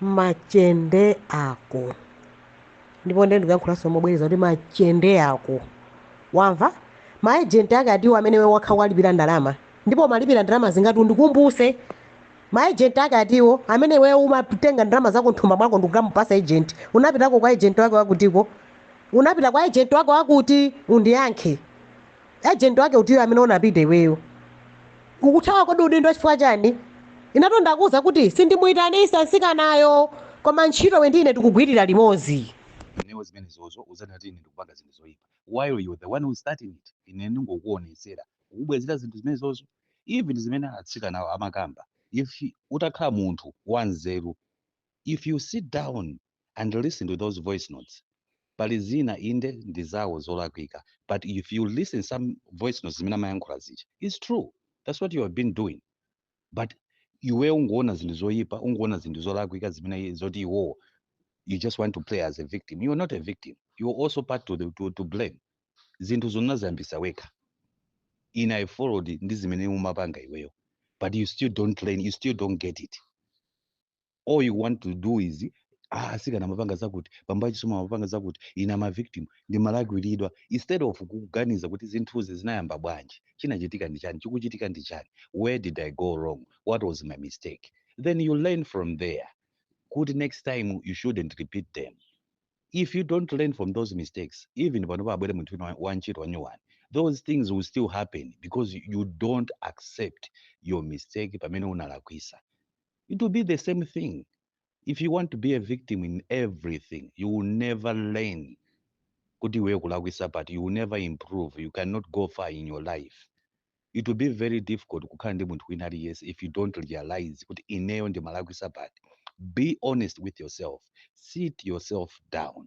machende ako ndipo ndiye ndikuyankhulaso mobwereza kuti machende ako wamva maejenti ake atiwo amene iwe wekha walipira ndalama ndipo umalipira ndalama zingati undikumbuse maejenti ake atiwo amene iwe umatenga ndalama zako nthumba mwako ndikukamupasa ejenti unapitako kwa ejenti wake wakutiko unapita kwa ejenti wake wakuti undiyankhe Agent wake utiyo amene unapita iweyo? Ukuthawa kodi udindo wako chifukwa chani? Inetu ndakuuza kuti sindimuitanisa nsikanayo koma ntchito iwe ndi ine tikugwilira limodzi. Ineyo zimenezozo udzanena kuti ine ndikupanga zinthu zoipa while you're the one who's starting it. Ine ndingokuonetsera kukubwezera zinthu zimenezozo. Even zimene atsikanawa amakamba if utakhala munthu wanzeru. if you sit down and listen to those voice notes pali zina inde ndi zawo zolakwika but if you listen some voice notes zimene amayankhula zija its true that's what you have been doing but iwe ungoona zinthu zoyipa ungoona zinthu zolakwika zimene zoti iwowo you just want to play as a victim you are not a victim you are also part to, the, to, to blame zinthu zonaziyambisa wekha ine i followed ndi zimene umapanga iweyo but you still don't learn you still don't get it all you want to do is ah, asikana amapanga zakuti bambo a Chisomo amapanga zakuti ine I'm a victim ndimalakwiridwa instead of kuganiza kuti zinthuzi zinayamba bwanji chinachitika ndi chani chikuchitika ndi chani where did i go wrong what was my mistake then you learn from there kuti next time you shouldn't repeat them if you don't learn from those mistakes even pano pabwere munthu wina wa- wantchito wanyuwani those things will still happen because you don't accept your mistake pamene unalakwisa it will be the same thing if you want to be a victim in everything you will never learn kuti iweyo kulakwisa but you will never improve you cannot go far in your life it will be very difficult kukhala ndi munthu wina aliyense if you don't realize kuti ineyo ndimalakwisa but be honest with yourself sit yourself down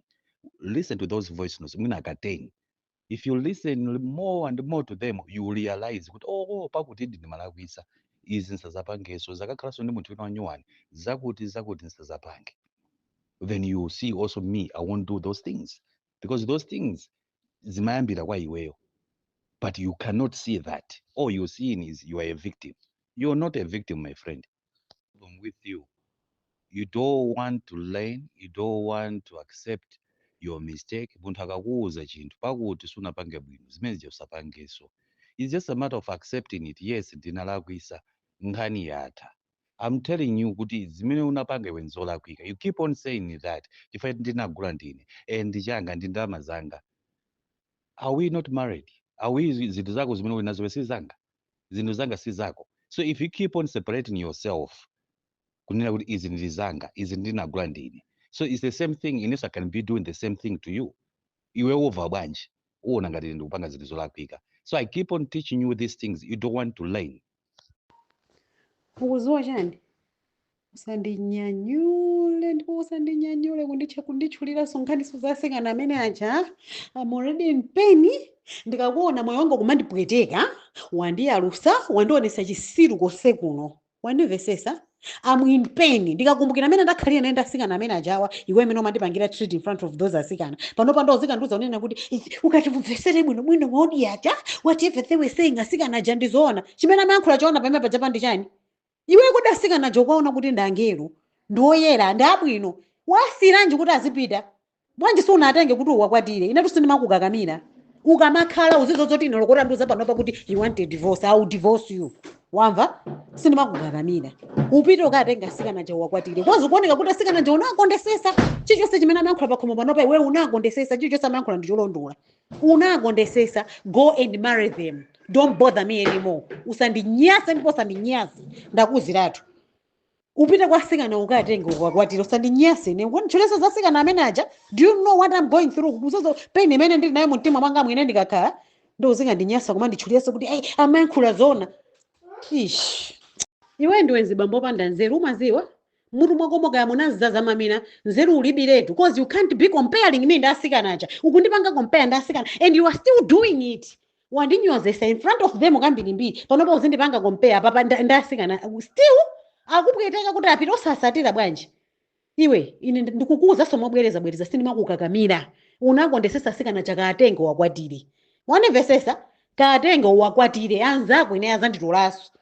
listen to those voice notes mwina ka 10 if you listen l- more and more to them you will realize kuti oo pakutidi ndimalakwisa izi nsazapangeso ndikazakhalanso ndi munthu wina wanyuwani zakuti zakuti nsazapange then you will see also me i won't do those things because those things zimayambira kwa iweyo but you cannot see that all you seeing is you are a victim you are not a victim my friend problem with you. You don't want to learn, you don't want to accept your mistake. Munthu akakuuza chinthu pakuti sunapange bwino, zimene zija usapangenso. It's just a matter of accepting it. Yes, ndinalakwisa, nkhani yatha. I'm telling you kuti zimene unapanga iwe nzolakwika. You keep on saying that. Chifukwa ndinagula ndine, eh ndi changa ndi ndalama zanga. Are we not married? Are we zinthu zako zimene uli nazo iwe si zanga? zinthu zanga si zako so if you keep on separating yourself kunena kuti izi ndi zanga izi ndinagula ndine so its the same thing inenso i can be doing the same thing to you iwe wova bwanji uona ngati ndikupanga zinthu zolakwika so i keep on teaching you these things you don't want to learn ukuziwa chani Usandinyanyule ndipo usandinyanyule kunditchu kunditchuliranso nkhaniso za asikana amene aja I'm already in pain ndikakuona moyo wanga kumandipweteka wandiyalusa wandionesa chisiru konse kuno wandimvesesa I'm in pain ndikakumbukira amene ndakhalira naye ndi asikana amene ajawa iwe amene umandipangira treat in front of those asikana pano pano uzikandiuza unena kuti "Ichi, ukatimvesere bwino bwino waudi aja whatever they were saying asikana aja ndizoona chimene amayankhula choona pamene paja pandi chani Iwe kodi asikana aja ukuwaona kuti ndi angelo, ndi oyera, ndi abwino, uwasiiranji kuti azipita? Bwanji sunatenge kuti uwakwatire? Inetu sindimakukakamira. Ukamakhala uzidziwa zoti ine olo utandiuza panopa kuti you want a divorce, I will divorce you. Wamva? Sindimakukakamira. Upite ukatenge asikana aja uwakwatire. Cause ukuoneka kuti asikana aja unawakondesesa. Chilichonse chimene amayankhula pakhomo panopa iwe unawakondesesa. Chilichonse amayankhula ndi cholondola. unakondesesa go and marry them don't bother me anymore usandinyase ndipo usandinyase ndakuuziratu upite kwa asikana ukatenge ukakwatire usandinyase ine kunditchulira za asikana amene aja do you know what i'm going through ukuziwa pain imene ndili nayo mumtima mwanga mwine ine ndikakhala ndo uzingandinyasa kumanditchulira kuti ayi amayankhula zona ish iwe ndiwe nzibambo opanda nzeru umaziwa mmutu mwakomo kaya munazaza mamina nzeru ulibiletu cause you can't be comparing me ndi asikana aja ukundipanga compare ndi asikana and you are still doing it wandinyozesa in front of them kambirimbiri panopa uzindipanga compare apapa nda- ndi asikana still akupweteka kuti apita osasatira bwanji iwe ine ndi- ndikukuwuzanso mobwereza bwereza sindimakukakamira unakondesesa asikana aja kaatenge uwakwatire wandimvesesa kaatenge uwakwatire anzako ine azanditolanso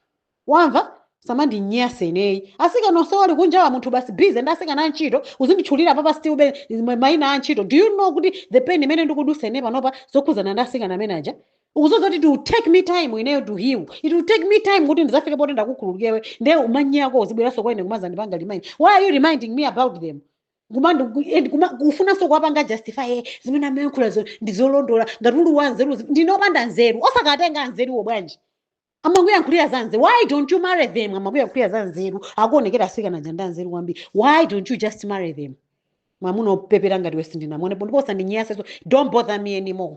wamva? usamandinyanse ineyo asikana onsewo ali kunjawa munthu basi busy ndi asikana antchito uzinditchulira apapa still be ma- maina a antchito do you know kuti the pain imene ndikudusa ine panopa zokhudzana ndi asikana amene aja ukuziwa kuti it will take me time ineyo to heal it will take me time kuti ndizafike poti ndakukhululukira iwe nde uma- nde iwe uzibweranso kwa ine kumazandipanga remind why are you reminding me about them kumandi and kuma- kufunanso kuwapanga justify eh, zimene amayankhulazo ndizolondola ngati ali anzeru ndine opanda nzeru osakatenga anzeruwo bwanji amakuyankhulira za nzeru why don't you marry them amakuyankhulira za nzeru akuonekera asikana aja ndi anzeru kwambiri why don't you just marry them mwamuna opepera ngati iwe sindinamuonepo ndipo usandinyaseso don't bother me anymore